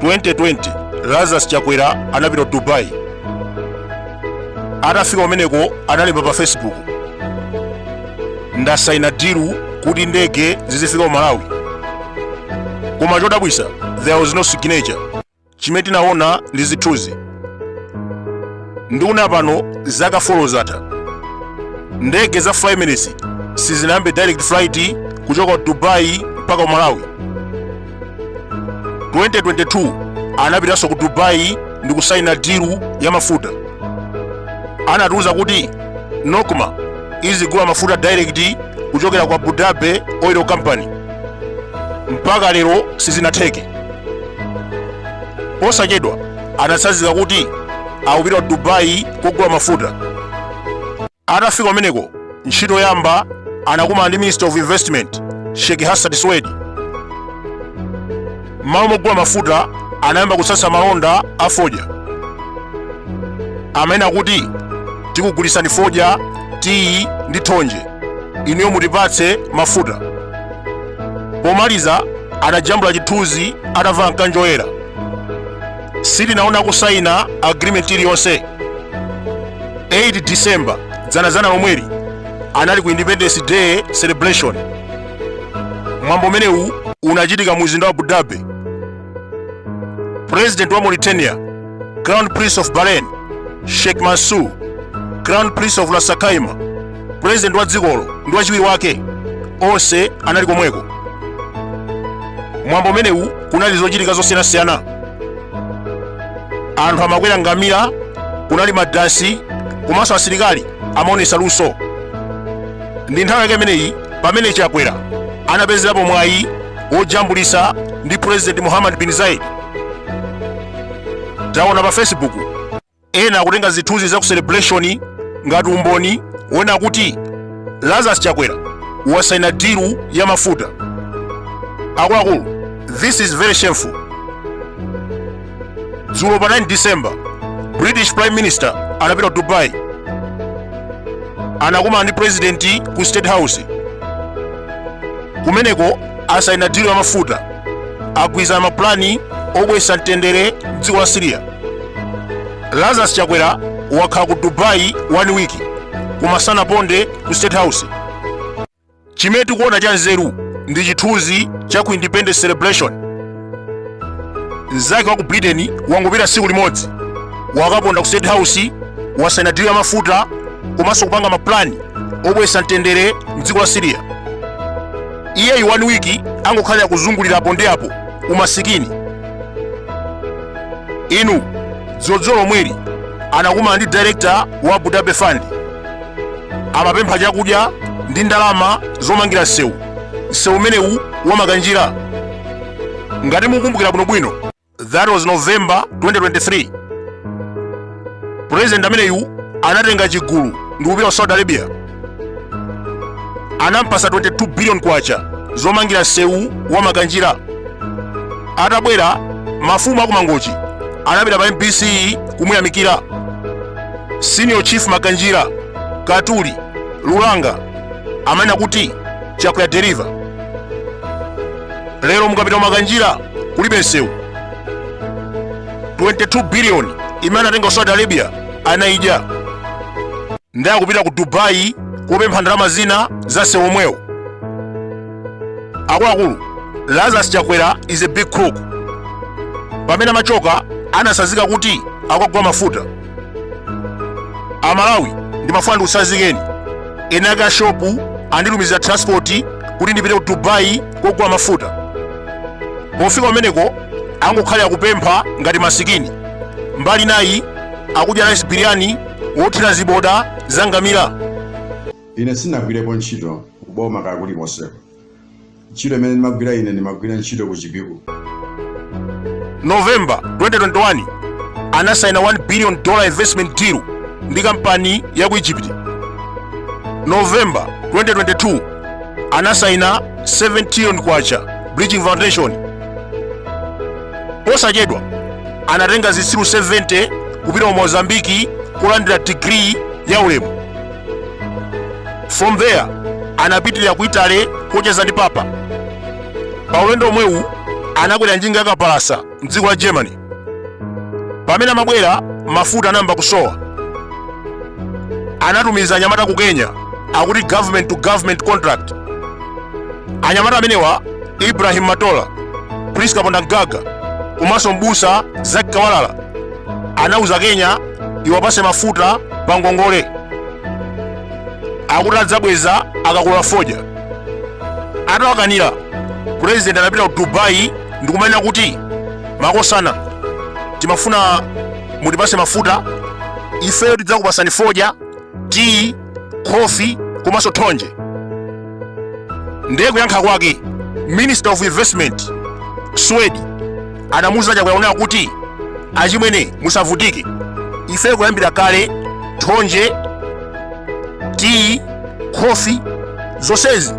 2020 lazarus chakwera anapita dubai atafika kumeneko analemba pa facebook ndasaina dilu kuti ndege zizifika ku malawi koma chodabwisa there was no signature chimene tinaona ndi zithunzi ndikunena pano zaka 4 zatha ndege za fly emirates sizinayambe direct flight kuchoka ku dubai mpaka ku malawi 2022 anapitanso ku dubai ndi kusaina dilu ya mafuta anatiuza kuti nocma izigula mafuta direct kuchokera kwa abu dhabi oil company mpaka lero sizinatheke posachedwa anatsanzika kuti akupita ku dubai kogula mafuta atafika kumeneko ntchito yoyamba anakumana ndi minister of investment sheikh hassan suwaidi m'malo mogula mafuta anayamba kutsatsa malonda a fodya amene akuti tikugulisani fodya tiyi ndi thonje inuyo mutipatse mafuta pomaliza anajambula chithunzi atavala mkanjo woyera sitinaona kusayina agreement iliyonse 8 december dzanadzana lomweli anali ku independence day celebration mwambo umenewu unachitika mu mzinda wa abu dhabi President wa Mauritania, Crown Prince of Bahrain, Sheikh Mansour, Crown Prince of Ras Al Khaimah, President wa dzikolo ndi wachiwiri wake onse anali komweko. Mwambo umenewu kunali zochitika zosiyanasiyana. Anthu amakwera ngamira, kunali madansi, komanso asilikali amaonesa luso. Ndi nthawi yake imeneyi pamene Chakwera anapezerapo mwayi wojambulisa ndi president mohammed bin zayed taona pa facebook ena akutenga zithunzi za ku celebration ngati umboni wonena kuti lazarus chakwera wasaina diru ya mafuta akuluakulu this is very shameful dzulo pa 9 december british prime minister anapita ku dubai anakumana ndi president ku state house kumeneko asaina dilu ya mafuta agwirizana mapulani obweretsa mtendere mdziko la syria lazarus chakwera wakhala ku dubai one week koma sanaponde ku state house chimene tikuona cha nzeru ndi chithunzi cha ku independence celebration mnzake wa ku britain wangopita tsiku limodzi wakaponda ku state house wasaina dili ya mafuta komanso kupanga mapulani obweretsa mtendere mdziko la siriya iyeyu 1 week angokhalira kuzungulira apo ndi apo umasikini inu dzulo lomweli anakumana ndi director wa abu dhabi fund amapempha chakudya ndi ndalama zomangira msewu msewu umenewu wa Makanjira ngati mukukumbukira bwinobwino that was november 2023 president ameneyu anatenga chigulu ndi kupita ku saudi arabia anampasa 22 billion kwacha zomangira msewu wa Makanjira atabwera mafumu aku Mangochi anapita pa mbc kumuyamikira Senior Chief Makanjira Katuli Lulanga amanena kuti chakwera wa deliver lero mukapita ku makanjira kulibe msewu 22 billion imene anatenga ku saudi arabia anaidya ndiye akupita ku dubai kupempha ndalama zina za msewu omwewo akuluakulu lazarus chakwera is a big crook pamene amachoka anasazika kuti akagula mafuta amalawi ndimafuna ndikusazikeni eni ake a shopu anditumizira transport kuti ndipite ku dubai kogula mafuta pofika kumeneko angokhalira kupempha ngati masikini mbali nayi akudya rice biryani wothira ziboda zangamira Ine sindinagwirepo ntchito ku boma kaya kulikonseko. Ntchito imene ndimagwira ine ndimagwira ntchito ku Chipiku. November 2021 anasaina 1 billion dollar investment deal ndi kampani ya ku Egypt. November 2022 anasaina 7 trillion kwacha bridging foundation. Posachedwa anatenga zitsiru 70 kupita ku Mozambique kulandira degree ya ulemu. from there anapitirira ku italy kocheza ndi papa pa ulendo omwewu anakwera njinga yakapalasa mdziko la germany pamene amabwera mafuta anayamba kusowa anatumiza anyamata ku kenya akuti government to government contract anyamata amenewa ibrahim matola prisca phondamgaga komanso mbusa zaki kawalala anauza kenya iwapase mafuta pa ngongole akuti adzabweza akakolola fodya atawakanira purezidenti anapita ku dubai ndikumanena kuti makosana timafuna mutipase mafuta ifeyo tidzakupasani fodya tiyi khofi komanso thonje ndiye kuyankha kwake minister of investment swedi anamuuza chakwera kunena kuti achimwene musavutike ifeyo kuyambira kale thonje tiyi khofi zonsezi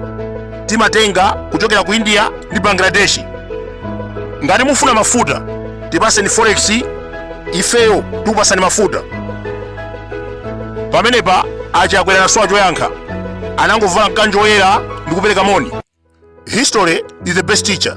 timatenga kuchokera ku india ndi bangladesh ngati mufuna mafuta tipaseni forex ifeyo tikupasani mafuta pamenepa achakwera anasowa choyankha anangovala mkanjo woyera ndi kupereka moni history is the best teacher